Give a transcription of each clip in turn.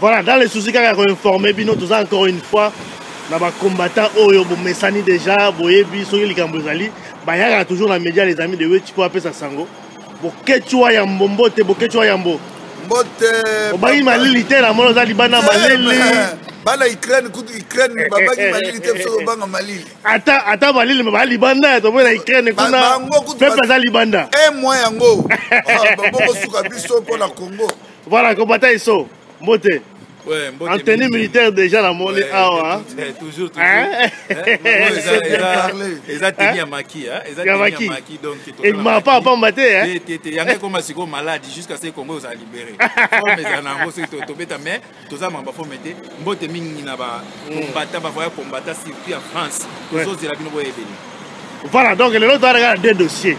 voilà dans les soucis kaka ya koinforme bino toza encore une fois na bacombattant oyo bomesani déjà boyebi soki likambo ezali bayaka toujours na média les amis de weti mpo apesa sango boketsua yambo mbote boketsua yambo mbote obangi malili te na mona oza libanda malili bana ukraine kutu ukraine babaki malili te biso kobanga malili ata ata balili ba libanda ya toboyi na ukraine kuna pepe aza libanda e mwa yango ah, babokosuka biso mpo na congo voilà kobata iso mbote en tenue militaire déjà na moni awa eza teni ya maki ya maki ebima pa pamba te yango ekoma sikoyo maladi jusqu'à ce congo ozala libéré forme eza na yango soki tobeta mais toza maka bafome te mbote mingi na bakombata mm. bavoya kombata surtout ya france tozozela bino boyebeli voilà donc lelo toyaka na deux dossier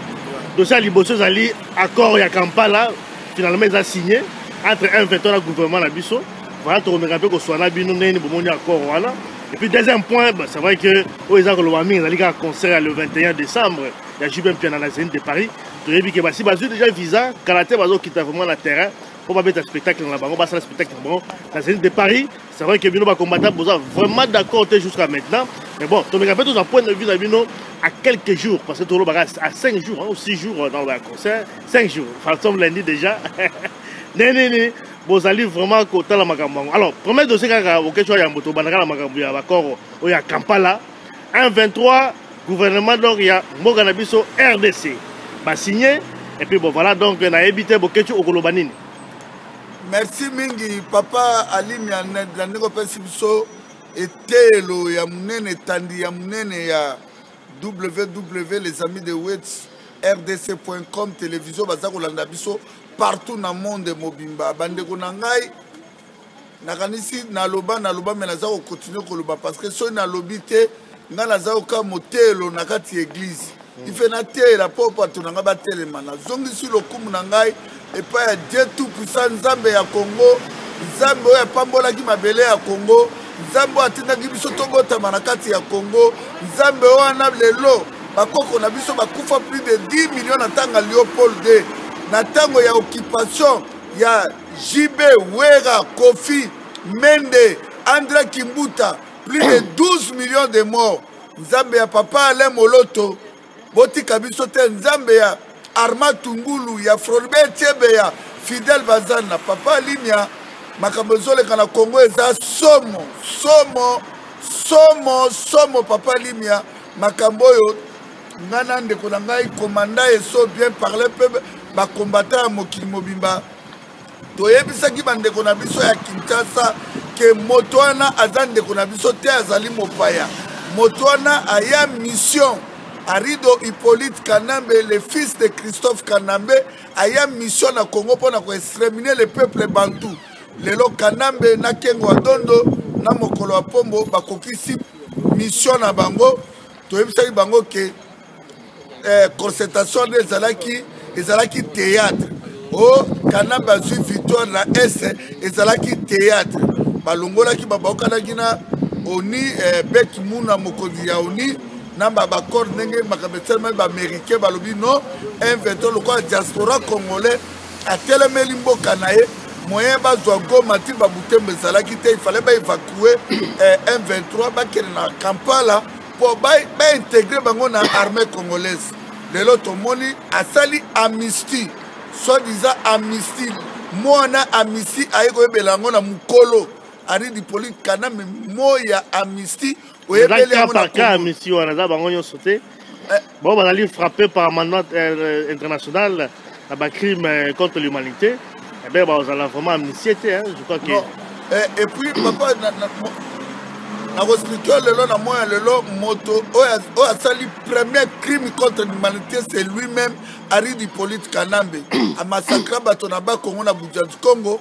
dossier ya liboso ezali accord ya kampala finalement eza signe entre un veto na gouvernement na biso voilà tokomeka mpe koswana bino ndenge nini bomoni accord wana et puis deuxième point c'est vrai que oyo eza koloba mingi ezali kaka concert ya le 21 décembre ya jubin mpiana na zeni de paris toyebi ke basi bazwi déjà visa kala te bazokita vraiment na terrain mpo babeta spectacle na bango basala spectacle na bango na zenith de paris c'est vrai que bino bacombattant boza vraiment d'accord te jusqu'à maintenant mais bon tomeka mpe tozwa point de vue na bino à quelques jours parce que tolobaka à 5 jours hein, ou 6 jours euh, dans le concert 5 jours enfin somme lundi déjà ne nini bozali vraiment kotala makambo yango alors premier dossier kaka okesho ya yambo tobandaka na makambo ya bakoro oyo ya kampala un 23 gouvernement donc ya mboka na biso rdc basigne epuis bon voilà donc nayebi te bokeci okoloba nini merci mingi papa alimia na ndenge opesi biso eteyelo ya monene etandi ya monene ya ww les amis de wets rdc.com télévision baza kolanda biso partout na monde mobimba bandeko na ngai nakanisi naloba naloba me naza kokontinue koloba parce que soki nalobi te ngai naza koka moteyelo na kati ya eglize mm. ife nateyela mpo bato na ngai batelema nazongisi lokumu na ngai epai ya dieu tout puissant nzambe ya congo nzambe oyo apambolaki mabele ya congo nzambe oyo atindaki biso tobotama na kati ya congo nzambe wana lelo bakoko na biso bakufa plus de 10 million na ntango ya leopold 2 na ntango ya occupation ya JB, Wera, Kofi, Mende, André Kimbuta, plus de 12 millions de morts. Nzambe ya papa Alain Moloto, botika biso te Nzambe ya Arma Tungulu, ya Frolbert Chebeya, Fidel Bazan na papa Limia, makambo ezoleka na Congo eza somo, somo, somo, somo papa Limia, makambo oyo nga na ndeko na ngai komanda eso bien parle mpe bakombata ya mokili mobimba toyebisaki bandeko na biso ya kinshasa ke moto wana aza ndeko na biso te azali mopaya moto wana aya mission arido hippolyte kanambe le fils de christophe kanambe aya mission na congo mpo na koextremine le peuple bantou lelo kanambe na kengo adondo na mokolo ya pombo bakokisi mission na bango toyebisaki bango ke eh, concertation nde ezalaki ezalaki théâtre o oh, kanambe azwi victoire na est ezalaki théâtre balongolaki babaokanaki na oni eh, bet muna mokonzi ya oni na babaccord ndenge makambo esalemaki baaméricain balobi non invento lokola diaspora congolais atelemeli mboka na ye moyen bazwa goma ti babutembo ezalaki te ifale baevakue eh, m23 bakende na kampala mpo baintegre bango na armée congolaise lelo tomoni asali amnistie soit disant amnistie mwana amnistie aye koyebela yango na mokolo ari dipolite kaname moya amnistie oyebeli yango na Congo misi wana eza bango nyonso te eh. bango bazali frappe par amendement euh, international na bacrime euh, contre l'humanité ebe eh bazala vraiment amnistie te je crois que eh, et puis papa nakoexplike yo lelo na moya lelo moto oyo asali premier crime contre l'humanité c'est lui-même ari dipolite kanambe amasakra bato na bakongo na budjadi congo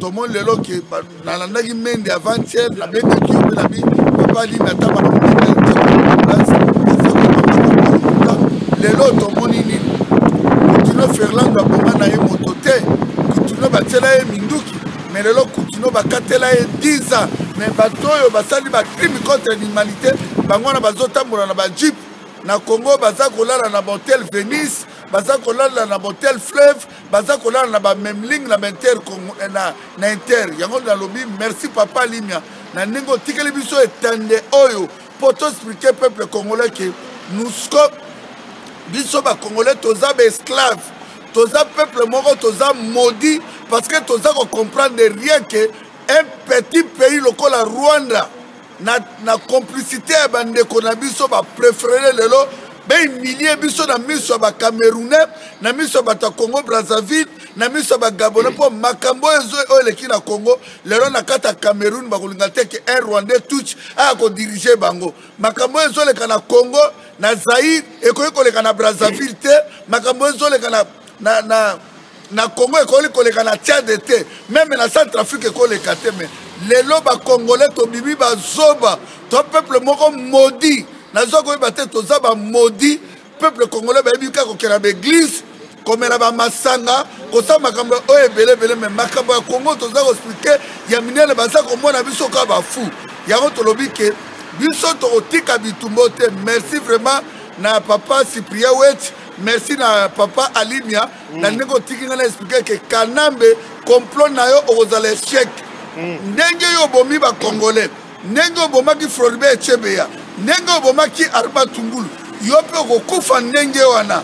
tomoni lelo ke nalandaki mende avant hier na mende kibe na bi papa ali na taba na lelo tomoni nini kutino ferlando aboma na ye moto te kutino batyela ye minduki me lelo kutino bakatela ye 10 ans me bato oyo basali bacrime contre l'humanité bango wana bazotambola na bajipe na congo baza kolala na bahotel venise baza kolala na bahotel fleuve baza kolala na bamemling na bainter eh, na, na inter yango nalobi merci papa limia na ndenge otikeli biso etande oyo mpo toexplike peuple congolais ke nusko biso bacongolais toza baesclave toza peuple moko toza maudit parce que toza kocomprendre rien ke un petit pays lokola rwanda na, na complicité ya bandeko na biso baprefere lelo bahumilie biso na miso ya bacamerounais na miso ya bato ya congo brazzaville na miso ya bagabonais mpo makambo oyo eleki na congo lelo na kati ya cameroun bakolinga te ke un rwandais touch aya kodirige bango makambo oyo ezoleka na congo na zaire ekoki koleka na brazzaville te makambo oyo ezoleka na, na, na na congo ekoki koleka na tiade te meme na centre afrique ekoleka te me lelo bacongolais tobimi bazoba to peuple moko modi naza koyeba te toza bamodi peuple congolais bayebi kaka kokela baeglise komela bamasanga kosala makambo oyo ebele ebele me makambo ya congo toza koexplike ya minene baza komona biso kaka bafu yango tolobi ke biso tokotika bitumbo te merci vraiment na papa cyprien wet merci na papa alimia mm. na ndenge otiki ngai na explike ke kanambe complot na yo okozala echec mm. ndenge yo obomi bacongolais ndenge obomaki floribe echebeya ndenge obomaki arba tungulu yo mpe okokufa ndenge wana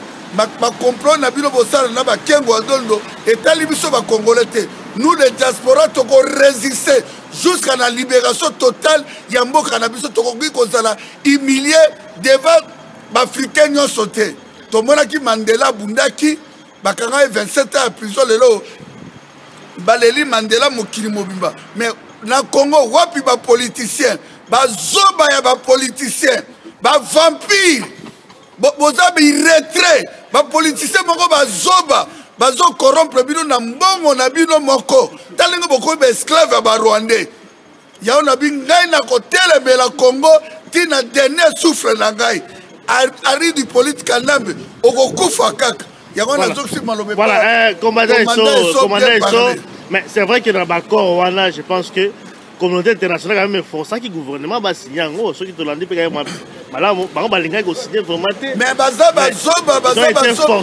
bacomplot na bino bosala na bakengo ya dondo etali biso bacongolais te nous les diaspora tokoresiste jusqu'à la libération totale ya mboka na biso tokoki kozala humilie devant baafricain nyonso te tomonaki mandela abundaki bakanga ye 27 ans ya prison lelo baleli mandela mokili mobimba mais na congo wapi bapoliticien bazoba ya bapoliticien bavampire boza biretrait bapoliticien moko bazoba bazokorompre bino na mbongo na bino moko ta ndenge bokomi baesclave ya barwandais yango nabi ngai nakotelemela congo ti na dernier souffle na ngai ari du polite kanambe okokufa kaka yango nazokisi maloba voilà eh, commandant eso commandant eso mais c'est vrai que na baccord wana je pense que communauté internationale quand même eforçaki gouvernement basigne yango soki tolandi mpe kaka malamu bango balingaki kosigne vraiment te mais baza bazoba baza bazoba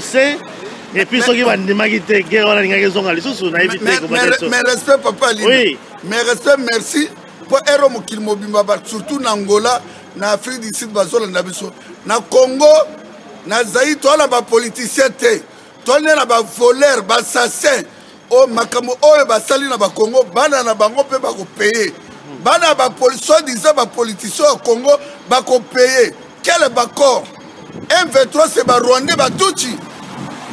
et puis soki bandimaki te guerre wana alingaki ezonga lisusu nayebi te mais respect papa lino mais respect merci mpo ero mokili mobimba ba surtout na angola na afrique du sud bazolanda biso na congo na zai toa na bapoliticien te toa nde na bavoler bassassin o makambo oyo basali na bakongo bana na bango mpe bakopeye bana ya bapolisi soi disant bapoliticien ya congo bakopeye Quel bacor M23 c'est ba Rwandais ba Tutsi.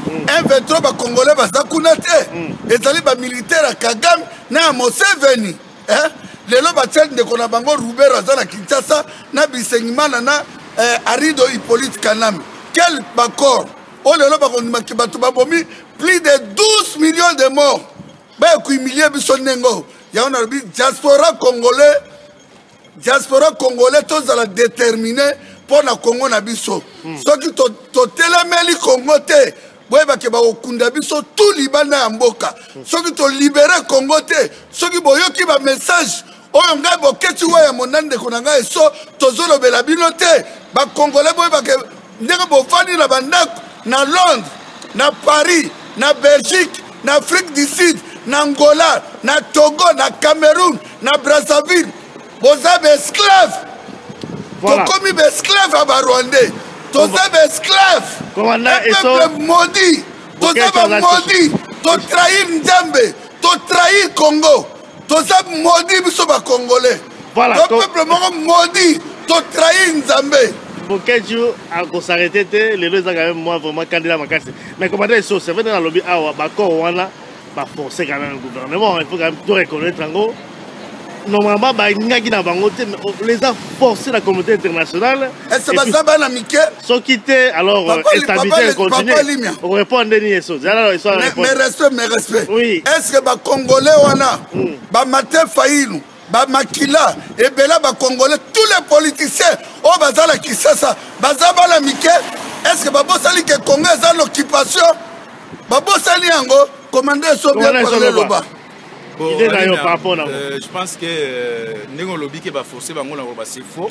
Mm. M23 ba Congolais baza kuna te. Mm. Ezali ba militaire ya Kagame na ya Museveni. Eh? Lelo batia ndeko na bango Rubero aza na Kinshasa na Bisengimana na eh, Arido Hippolyte Kanambe. Quel bacor oyo oh, lelo bakondimaki bato babomi plus de 12 millions de morts baye kohumilie biso ndenge oyo yango nalobi diaspora congolais diaspora congolais tozala determine mpo na kongo na biso hmm. soki totelemeli kongo te boyebake bakokunda biso tu libanda ya mboka hmm. soki tolibere kongo te soki boyoki bamessage oyo ngai boketi wa ya mona ndeko na ngai eso tozolobela bino te bakongole boyebake ndenge bofandi na bandako na londres na paris na belgique na afrique du sud na angola na togo na cameroun na brazzaville boza baesclave voilà. tokomi baesclave ya barwandais toza baesclave peuple maudit toza bamodi totrahir nzambe totrahir congo toza modi biso ba congolais voilà, to peuple moko modi totrahi nzambe bokeju akosarete te lelo eza quand même moi vraiment candidat makasi mais commandant esso c'est vrai nalobi awa bacor wana baforce quand même gouvernement il faut quand même to reconnaître yango normalement balingaki na bango te mais oh, les a forcé la communauté internationale ese baza bana mike soki te alors euh, instabilité continue okorépondre nde nini eso zala eso mais respect mais respect oui. est ce que bacongolais wana mm. bamate fayilu bamakila ebela bacongolais tous les politiciens oyo baza na kisasa baza bana mike est ce que babosani ke congo eza na occupation babosani yango komanda eso bien parle loba idée na yo par rapport na euh, je pense que euh, ndenge olobi ke baforce bango na bango base faux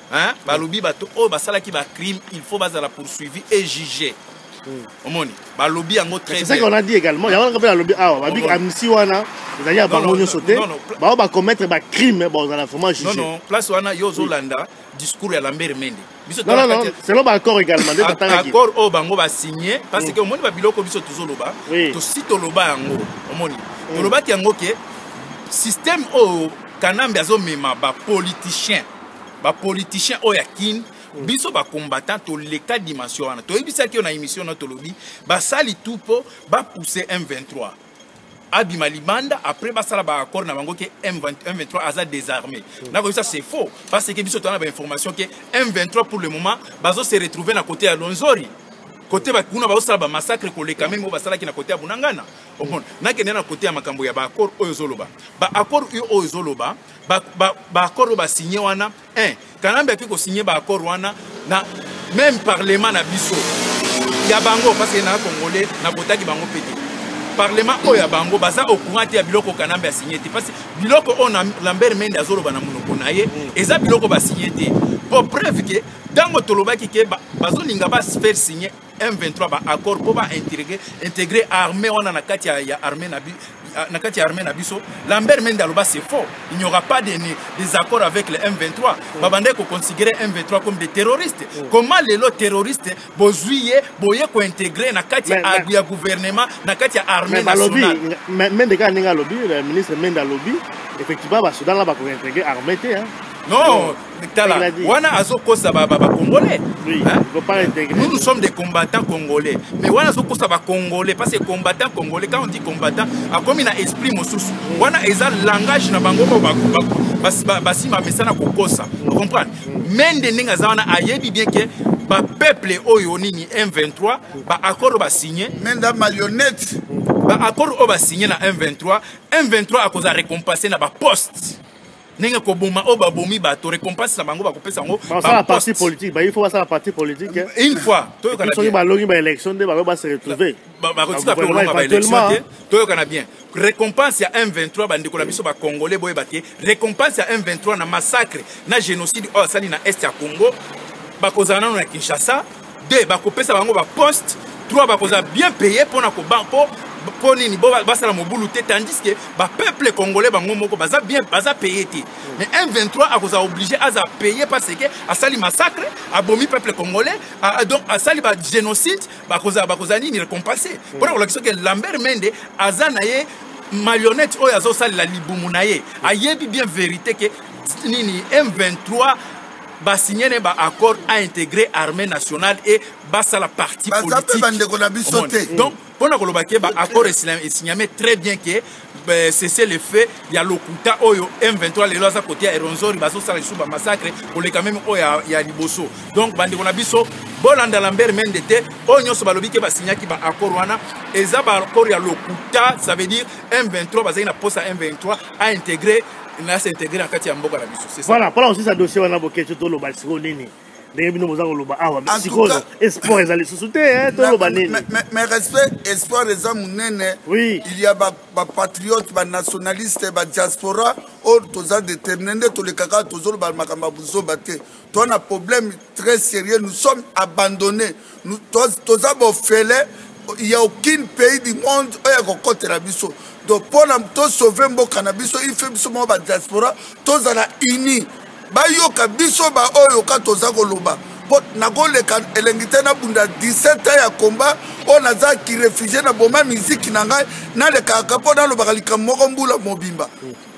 hein? balobi bato oyo basalaki bacrime il faut bazala poursuivi et juge hmm. omoni balobi yango trèsaki on a dit également yango naka mpe nalobi awa babi amisi wana ezali ya bango nyonso te bao bacommettre bacrime bazala vraiment juge non place wana yo ozolanda discours ya lambert mende biso non, non, non. selon baaccord également nde tatangaki accord oyo oh, bango basigne parce hmm. que omoni babiloko biso tozoloba tosi toloba yango omoni hmm. tolobaki yango ke système oyo oh, kanambe azomema bapoliticien ba politiciens oyo ya kin mm. biso bacombattant toleka dimension wana toyebisaki yo na émission na tolobi basali tout mpo bapousse m23 abima libanda après basala baaccord na bango ke m23 aza désarmé mm. nakoyebisa c'est faux parce que biso toza na bainformation ke m23 pour le moment bazo se retrouver na côté ya lonzori kote kuna bazosala bamassacre koleka meme oyo basalaki na kote ya bunangana omona nakende na kote ya makambo ya baaccord oyo ezoloba baaccord oyo ezoloba baaccord oyo basigne wana un kanambe ake kosigne baaccord wana na même parlement na biso ya bango parce que na congolais nakotaki bango mpe te parlement oyo ya bango baza au courant te ya biloko kanambe asigne te parce biloko oyo na lambert mende azoloba na monoko na ye mm. eza biloko basigne te po preuve ke ntango tolobaki ke bazolinga ba faire signe M23 ba accord po ba intégrer intégrer armée wana na kati ya, ya armée na bi ah, na kati ya armée na biso Lambert Mende aloba c'est faux il n'y aura pas de des accords avec le M23 mm. babandaki ko considérer M23 comme des terroristes mm. comment lelo terroriste bozui ye boye ko intégrer na kati ya, mais, ya gouvernement na kati ya armée nationale mais Mende kaka ndenge alobi le ministre Mende alobi effectivement ba Soudan là ba ko intégrer armée te hein non tala wana azokosa bacongolais nous nous sommes des combattants congolais mais wana azokosa bacongolais parce que combattant congolais quand on dit combattant akomi na esprit mosusu wana eza langage na bango oyo basi bamesana kokosa comprendre mende ndenge aza wana ayebi bien ke bapeuple oyo nini m23 baaccord oyo basigne menda marionnette baaccord oyo basigne na m23 m23 akozala récompensé na baposte ndenge koboma oyo babomi bato récompense na bango bakopesa yango parti politique bayi fo basala parti politique eh. une fois toyokanasoki balongi baélection nde bakoki base retrouve bakotika mpe kolonga baélection te toyokana bien récompense ya m23 bandeko na biso bacongolais boyeba te récompense ya m23 na massacre na génocide oyo asali na est ya congo bakozala nano na kinshasa 2 bakopesa bango baposte 3 bakozala bien paye mpona koba mpo mpo nini bo basala mobulu te tandis que bapeuple congolais bango moko baza bien baza paye te mais m23 akozala oblige aza paye parce que asali massacre abomi peuple congolais donc asali bagénocide bakozala bakozala nini récompensé mm. mpona kolakisa ke lambert mende aza na ye marionnette oyo azosalela libumu na ye ayebi bien vérité ke nini m23 ba signer ne ba accord a intégrer armée nationale et basala parti politique ba ndeko na biso te donc pona koloba ke ba accord esigname très bien que euh, cessez le feu ya lokuta oyo M23 lelo aza côté ya Eronzori bazosala lisusu ba massacre koleka meme oyo ya, ya liboso donc bandeko na biso bolanda Lambert Mende te oyo nyonso balobi ke basignaki ba accord wana eza ba accord ya lokuta ça veut dire M23 bazali na posa M23 a integrer na se integrer na kati ya mboka na biso c'est ça voilà pona osisa dossier wana boketio toloba sikoyo nini ndenge bino boza koloba awa ah, sikoyo esport eza lisusu te eh, toloba nini mais respect esport eza monene oui il y a bapatriote banationaliste badiaspora oyo toza détermine nde tolekaka tozoloba makambo ya buzoba te to na problème très sérieux nous sommes abandonné toza bofele il y a aucun pays du monde oyo ya kokotela biso donc mpo na tosauve mboka na biso ife biso moko badiaspora tozala uni bayoka biso baoyo ka toza koloba mpo nakoleka elengi te nabunda 17 ans ya komba oyo naza kirefugie na boma miziki na ngai nalekaka mpo nalobaka likambo moko mbula mobimba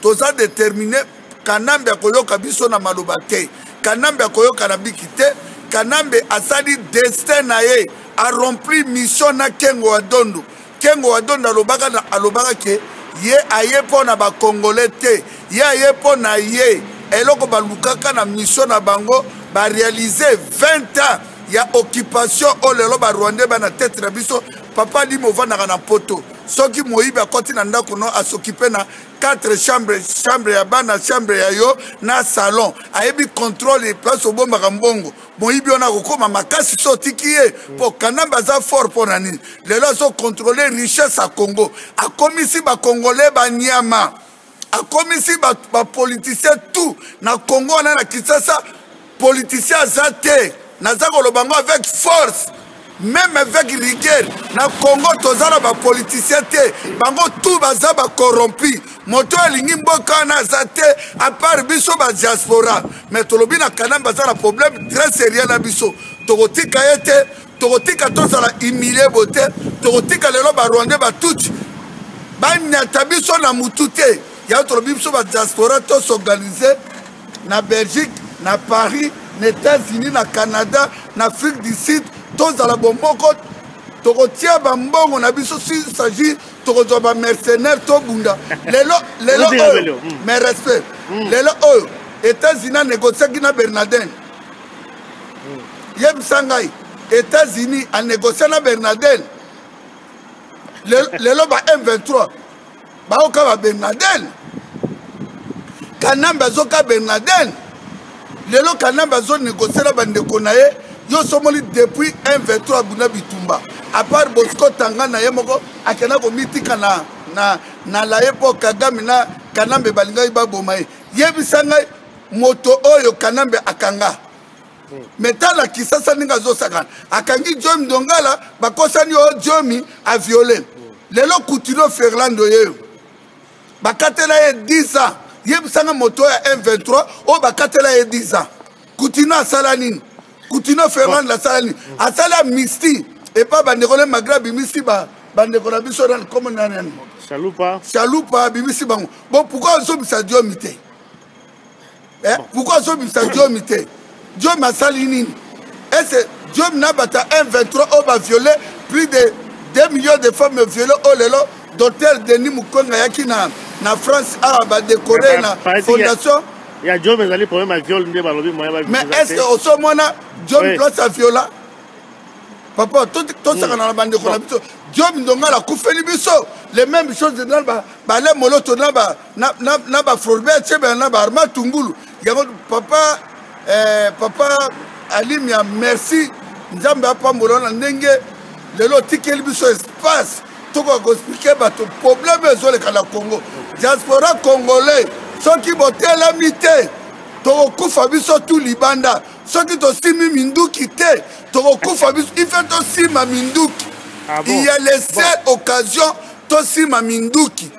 toza determine kanambe akoyoka biso na maloba te kanambe akoyoka na biki te kanambe asali destin na ye arempli mission na kengo wa dondo kengo wa dondo alobaka na alobaka ke ye aye mpo na bakongole te ye aye mpo na ye eloko balukaka na mission na bango barealize 20 ans ya occupation oyo lelo barwandais bana tete na biso papa limo ovandaka na poto soki moyibi akoti na ndako no asokipe na 4 chambre chambre ya bana chambre ya yo na salon ayebi contrôle place obombaka mbongo moyibi wana akokoma makasi so otiki ye mpo kanambe aza fort mpo na nini lelo azokontrole richesse ya congo akomisi bakongole banyama akomisi bapoliticien ba tout na congo wana na kisasa politicien aza te naza koloba yango avec force meme avec rigueur na congo toza na bapoliticien te bango tu baza bacorrompi moto oyo alingi mboka wana aza te apart biso badiaspora mais tolobi na kanambe aza na problème très sérieux na biso tokotika ye te tokotika tozala humilie bo te tokotika lelo barwandais batuti banyata biso na motu te yango tolobi biso badiaspora tosorganize na belgique na paris na états-unis na canada na afrique du sud tozala bomoko tokotia bambongo na biso s'agit tokozwa bamercenaire tobunda lelo lelo oyo hmm. mais respect hmm. lelo oyo états-unis anégociaki na bernardin hmm. yebisa ngai états-unis anégocie na bernardin lelo ba m23 baoka ba ben laden kanambe azoka ben laden lelo kanambe azonegocie na bandeko na ye yo somoli depuis 1 23 abunda bitumba apart bosco tanga na ye moko akenda komitika na, na, na laye mpo kagame na kanambe balingaki baboma ye yebisa ngai moto oyo kanambe akanga me tala kisasa ndenge azosakana akangi jomi dongala bakosani o jomi aviole lelo kutino ferlando yeyo bakatela ye 10 ans yebisanga moto ya m23 oyo bakatela ye 10 ans kutino asala nini kutino ferlando asala nini asali amnistie epa bandeko na magre abimisi bandeko na biso na nkombo na nani shalupa abimisi bango bo pourkui ozobisa jomi te eh, pourquoi azobimisa diomi te diomi asali nini ese diomi na bata 1 23 oyo baviole plus de 2 millions de femmes viole oyo oh lelo docteur denis mukonga ayaki na, na france awa ah, badekore eh, na fondation ya diomi ezali problème ya viole nde balobi moyen mais est ce que osomona diomi place ya viola papa tosakana hmm. na bandeko na biso diomi ndongala akufeli biso les mêmes choses na balai moloto na na, na, na baforbe atyebela na baarma tungulu yango papa eh, papa alimia merci nzambe apambola na ndenge lelo otikeli biso espace tokoka koexplike bato probleme ezoleka na congo diaspora congolais soki botelemi te tokokufa biso tu libanda soki tosimi minduki te tokokufa biso ife tosima minduki ah bon? il y a les bon. occasion tosima minduki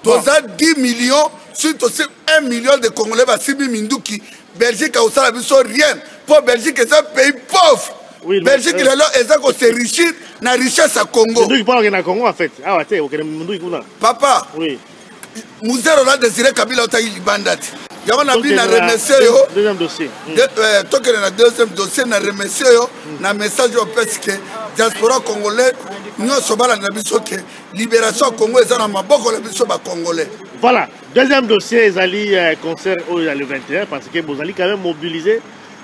toza 10 millions soki tosi 1 million de congolais basimbi minduki belgique akosala biso rien mpo belgique eza pays pauvre oui, belgique euh, lelo eza koserrichir na richesse ya congo papa oui. muzere oza désiré kabila otaki libanda te yango na bino na remercie yo hmm. euh, tokende na deuxième dossier na remercie yo hmm. na message opesi ke diaspora congolais nyonso balanda biso ke liberation ya congo eza na maboko na biso bacongolais voilà deuxième dossier ezali euh, concert oyo ya le 21 parce que bozali quand même mobilise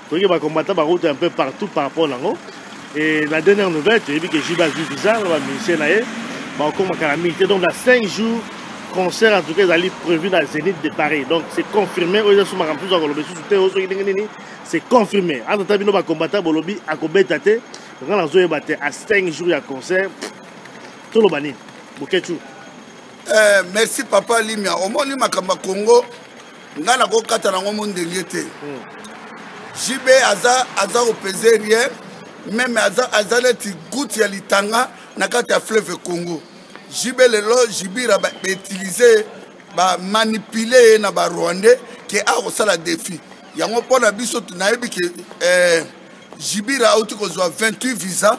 toyeke bacombattant barouta un peu partout par rapport nango et la dernière nouvelle toyebi que jiba azwi visa na bamusicien na ye baokomaka na mingi te donc na 5 jours concert en tout cas ezali prévu na zénith de paris donc c'est confirmé oyo ezasuma makambo mosusu akoloba esusu te oyo soki ndenge nini c'est confirmé atata bino bacombattant bolobi akobeta te nga nazoyeba te a 5 jours ya concert toloba nini boketshu eh, merci papa limia omoni makambo ya congo ngai nakokata nango mondenge te hmm. jb aza aza opese rien meme aza, aza neti gouti ya litanga na kati ya fleuve congo jb lelo jibira bautilize bamanipule ye na barwandais ke akosala defi yango mpo na biso nayebi ke eh, jibira auti kozwa 28 visa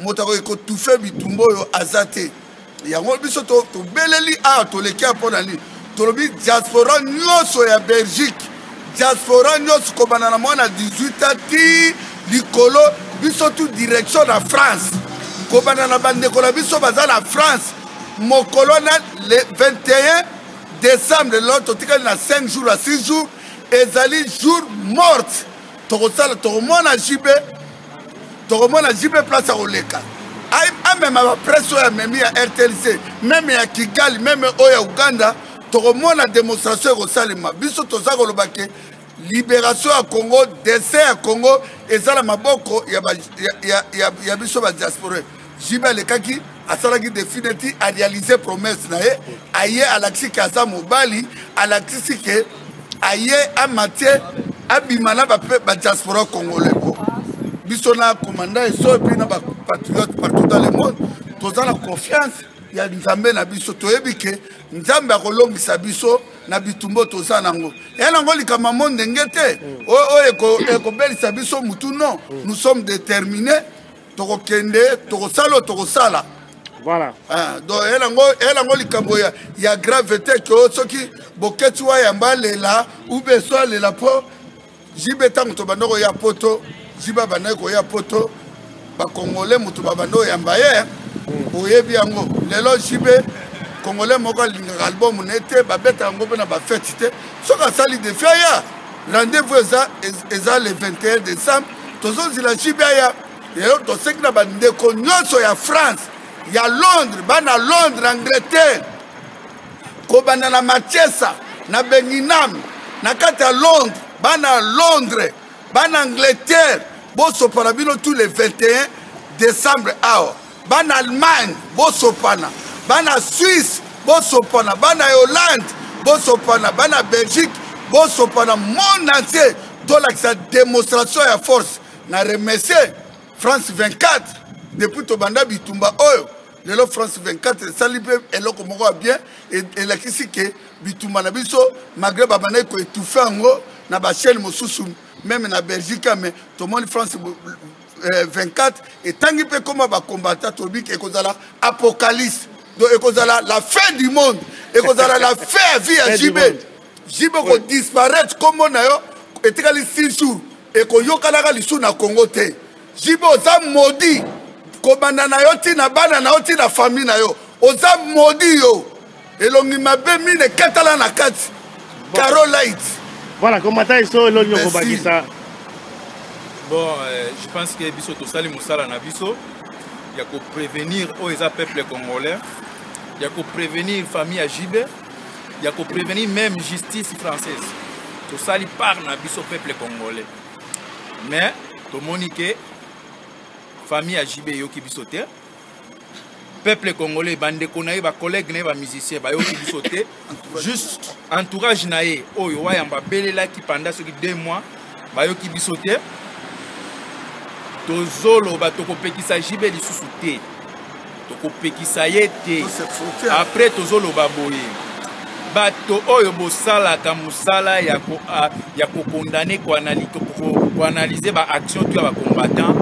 moto akoki kotufe bitumba oyo aza te yango biso tobeleli awa toleki ya mpo na nini tolobi diaspora nyonso ya belgique diaspora nyonso kobanda na mwana 18 ans ti likolo biso tu direction na france kobanda na bandeko na biso baza na france mokolo na le 21 décembre lelo totikali na 5 jours à 6 jours ezali jour morte tokosala tokomona jb tokomona jb place akoleka amema bapresse oyo amemi ya rtlc meme ya kigali meme oyo ya uganda tokomona demonstration ekosalema biso toza koloba ke liberation ya congo dessin ya congo eza na maboko ya, ba, ya, ya, ya, ya biso badiaspore JB alekaki asalaki defi neti arealize promesse na ye aye alakisi ke aza mobali alakisi ke aye amatie abima na badiaspora congolais po biso na commandant eso epuis na bapatriote partout dans le monde toza na confiance ya nzambe na biso toyebi ke nzambe akolongisa biso na bitumbo toza nango ya nango likambo yango ndenge te oyo ekobelisa biso motu non nous sommes déterminés tokokende tokosala oyo tokosala voilà ah, donc elango elango likambo ya, ya grave te ke oh, soki boketi wayamba alela ube so alela mpo jibe ntango tobanda koya poto jibe abandaki koya poto bakongole moto babanda oyamba ye hmm. oyebi yango lelo jibe congolais moko alingaka album ne te babetaka yango mpe na bafeti te soki asali defi aya rendez-vous eza eza le 21 décembre tozozila jibe aya lelo toseki na bandeko nyonso ya france ya londres bana londres angleterre kobanda na machesa na benginam na kati ya londres bana londres bana angleterre bosopana bino tout le 21 décembre awa bana allemagne bosopana bana suisse bosopana bana hollande bosopana bana belgique bosopana monde entier tolakisa démonstration ya force na remercie france 24 depuis tobanda bitumba oyo lelo france 24 esali mpe eloko moko ya bien e, elakisi ke bitumba na biso malgré babandaki koetufe yango na bachaine mosusu meme na belgique mais tomoni france 24 eh, etangi mpe koma bakombata tolobi ke ekozala apocalypse donc ekozala la fin du monde ekozala la fin ya vie ya jb jb okodisparaître nkombo na yo etikali 6 jours ekoyokanaka lisusu na congo te jb oza modi kobanda na yo ntina bana na yo ntina famille na yo oza modi yo elongi mabe mine katala na kati caro light voilà komata iso elongi okobakisa bon euh, je pense que biso tosali mosala na biso ya koprevenir oyo eza peuple congolais ya koprevenir famille ya jibe ya koprevenir même justice française tosali part na biso peuple congolais mais tomoni ke famille ya jibe eyoki biso te peuple congolais bandeko na ye bacollègue na ye bamusicien bayoki biso te juste entourage na ye oyo wayamba abelelaki panda soki deux mois bayoki biso te tozoloba tokopekisa jibe lisusu te tokopekisa ye te après tozoloba boye bato oyo bosalaka mosala ya ah, kokondane koanalyse baaction to ya bacombattant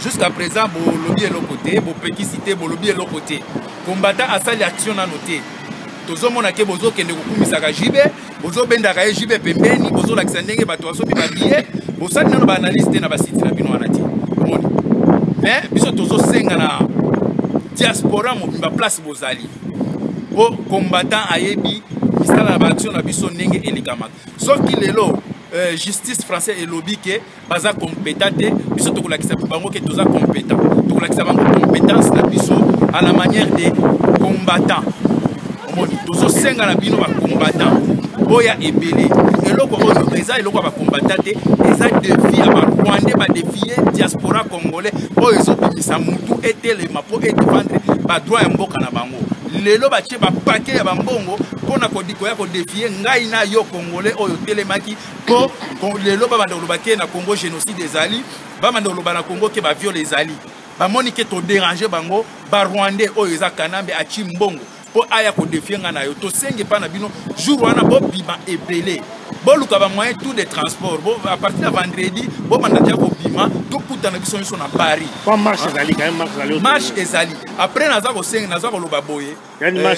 jusqu'à présent bolobi eloko te bopekisi te bolobi eloko te combattant asali action nano te tozomona ke bozokende kokumisaka jibe bozobendaka ye jibe pembeni bozolakisa ndenge bato basomi babiye bosali nano baanalyse te na basiti na bino wana te moni mais biso tozosenga na diaspora mobimba place bozali po combattant ayebi misala na baaction na biso ndenge elekamaka soki lelo euh, justice français elobi ke baza compétent te biso tokolakisa bango ke toza compétent tokolakisa bango compétence na biso à la manière de combattant omoni tozosenga na bino bacombattant boya ebele eloko oyo eza eloko ya bacombattant te eza defi ya barwandais badefie diaspora congolais oyo ezobimisa mutu etelema mpo edefendre badroit ya mboka na bango lelo batie bapake ya bambongo mpo na koya kodefie ngai na yo congolais oyo otelemaki mpo lelo babanda koloba te na congo génocide ezali bamanda koloba na congo ke baviole ezali bamoni ke toderange bango barwandais oyo eza kanambe aci mbongo mpo aya kodefie ngai na yo tosengi epai na bino jour wana bobima ebele boluka bamoyen tout de transport à partir ya vendredi bobanda tia kobima tokutana biso nyonso na paris marche ezali après naza kosenga naza koloba boye euh,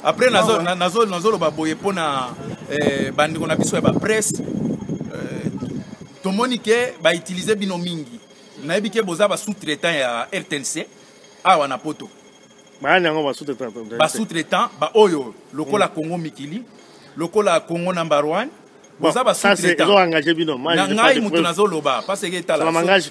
après nazoloba boye mpo na euh, bandeko na biso ya bapresse euh, tomoni ke bautilize bino mingi nayebi ke boza ba sous-traitant ya rtnc awa na poto bayani yango basous-traitant baoyo lokola hmm. congo mikili lokola congo number one boza basngai moto nazoloba paseke etalngai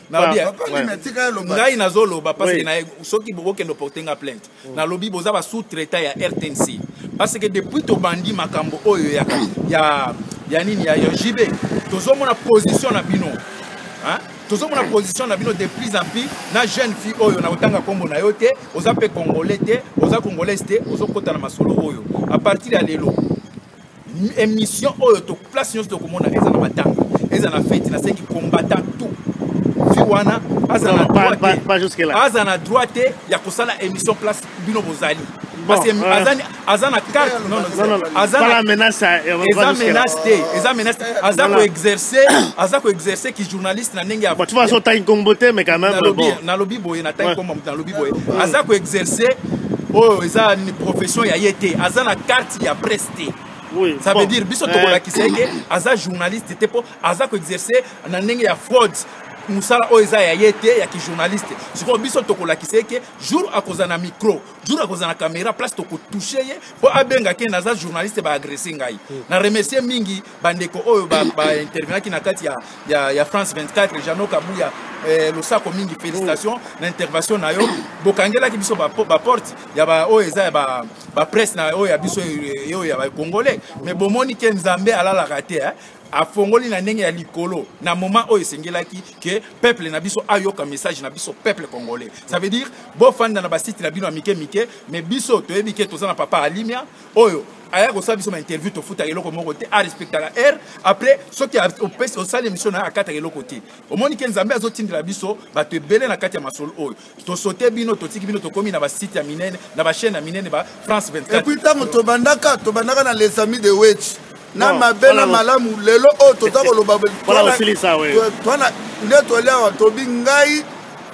nazoloba paseke soki bokende oporte nga plainte hmm. nalobi boza basous traitant ya rtnc paseke depuis tobandi makambo oyo ya, ya, ya nini ya, ya jb tozomona position na bino tozomona position na bino de plus en plus na jeune fille oyo nakotanga nkombo na yo te oza mpe congolais te oza congolaise te ozokota na masolo oyo a partir ya lelo émission oyo to place nyonso tokomona eza na matanga eza na feti nasengi combattant tout fi wana aza na droit te aza na droit te ya kosala émission place bino bozali parce que euh, azani aza na carte non non aza na menace eza menace te eza menace aza ko exercer aza ko exercer ki journaliste na ndenge ya tu vas au time combo te mais quand même bon na lobi boye na time combo na lobi boye aza ko exercer oyo eza ni profession ya ye te aza na carte ya presse te Oui, ça bon. veut dire biso tokolakisa ye ke aza journaliste te mpo aza koexerce na ndenge ya fraude mosala oyo eza ya ye te ya kijournaliste sikoyo biso tokolakisa ye ke jour akozala na micro jour akozala na caméra place tokotouche ye mpo abengaki ye naza journaliste baagresse ngai hmm. na remercie mingi bandeko oyo baintervenaki na kati ya, ya, ya france 24 jano kabuya eh, losako mingi félicitation hmm. na intervention na yo bokangelaki biso baporte ya baoyo eza ya bapresse na oyo ya biso oyo ya bacongolais mais bomoni ke nzambe alalaka te eh? afongoli na ndenge ya likolo na moment oyo esengelaki ke peuple na biso ayoka message na biso peuple congolais ça veut dire bofanda na basite na bino ya mike mike mais biso toyebi ke toza na papa alimia oyo aya kosala biso ma interview tofutaka eloko moko te arespectaka heure après soki osali émission na ye akataka eloko te omoni ke nzambe azotindela biso bato ebele na kati ya masolo oyo tosote bino totiki bino tokomi na basite ya minene na bachaine ya minene ba france 24 epuis ntango tobandaka tobandaka na les amis de wech na mabe na malamu lelo oyo toza koloba nde toli awa tobi ngai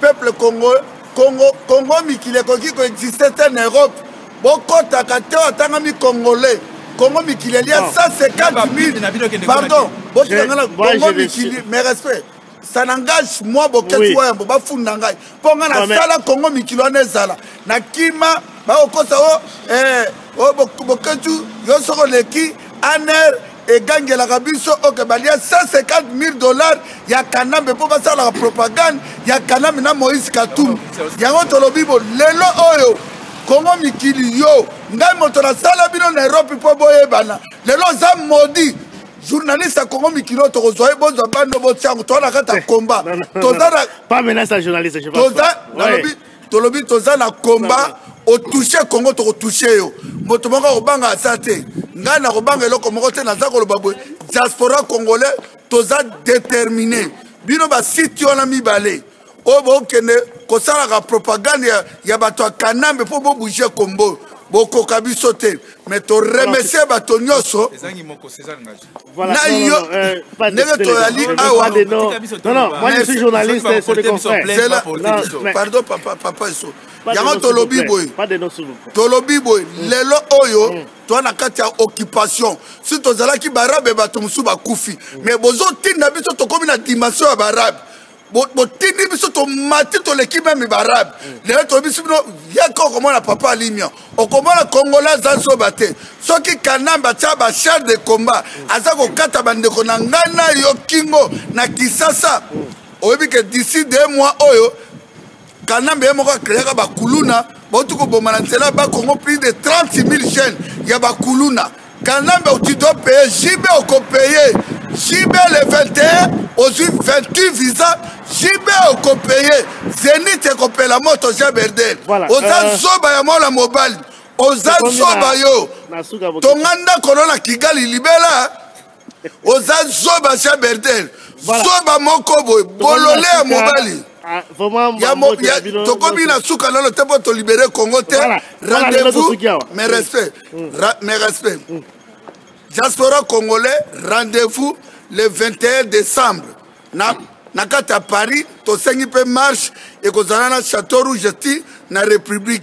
peuple congo congo congo mikili ekoki koexiste te na europe bokɔtaka te oyo atangami congolais congo mikili elia 150 000 pardon botikangana congo mikili mais respect ça n'engage moi boketi oui. wayambo bafunda ngai mpo ngai nasala kongo mikili wana ezala na kima bakokosa o eh, o boketu yo soki oleki aner egangelaka biso oke balia 150 000 dollars ya kanambe mpo basalaka propagande ya kanambe na moïse katumbi yango tolobi bo lelo oyo kongo mikili yo ngai moto nasala bino na erope mpo boyebana lelo oza modi journaliste ya congo mikilo tokozwa ye bozwa bando botya yango toza na kati ya combat toza na pas menace ya journaliste je toza nalobi tolobi toza na combat otouche congo tokotouche yo moto moko akobanga aza te ngai nakobanga eloko moko te naza koloba boye diaspora congolais toza détermine bino basite wana mibale oyo bokende kosalaka propagande ya, ya bato ya kanambe mpo bobouge kombo bokoka biso te mais toremercie bato nyonso na yo euh, ndenge toyali awapardon papa papa eso yango tolobi boye tolobi boye mm. lelo oyo mm. toa na kati ya occupation si tozalaki barabe bato mosusu bakufi mm. mais bozotinda biso tokomi na dimension ya barabe botindi biso tomati toleki meme barabe mm. lelo toyebisi bino yaka okomona papa alimia okomona kongola aza zoba te soki kanambe atya bachar de combat mm. aza kokata bandeko na ngai na yo kingo na kisasa mm. oyebi ke d'ici de mois oyo kanambe ye moko akreaka bakuluna bauti koboma na nzela ba congo plus de 30 000 jeunes ya bakuluna kanambe auti do paye jb okopeye jb le 21 ozwi 28 visa jb okopeye zenit ekopela moto jean berdel voilà, oza euh... zoba ya mwana mobali oza zoba yo tonga ndako no na kigali libela oza zoba sia bertel zoba moko boye bolole ya mobali ah, tokomi na suka nano te mpo tolibere congo te rendez-vous mes respect mm. mes respect mm. diaspora congolais rendez-vous le 21 décembre na, na kati ya paris tosengi mpe marche ekozala na chateau rouge ti na république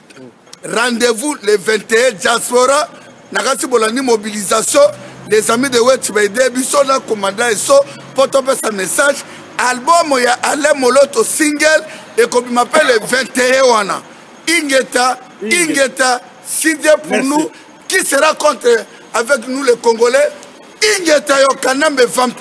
rendez-vous le 21 diaspora na kati bolandi mobilisation les amis de wet baide biso na komanda eso mpo topesa message albumu ya alain moloto single ekobima mpe le 21 wana ingeta ingeta sidie pour nous qui sera contre avec nous les congolais ingeta yo kanambe vampi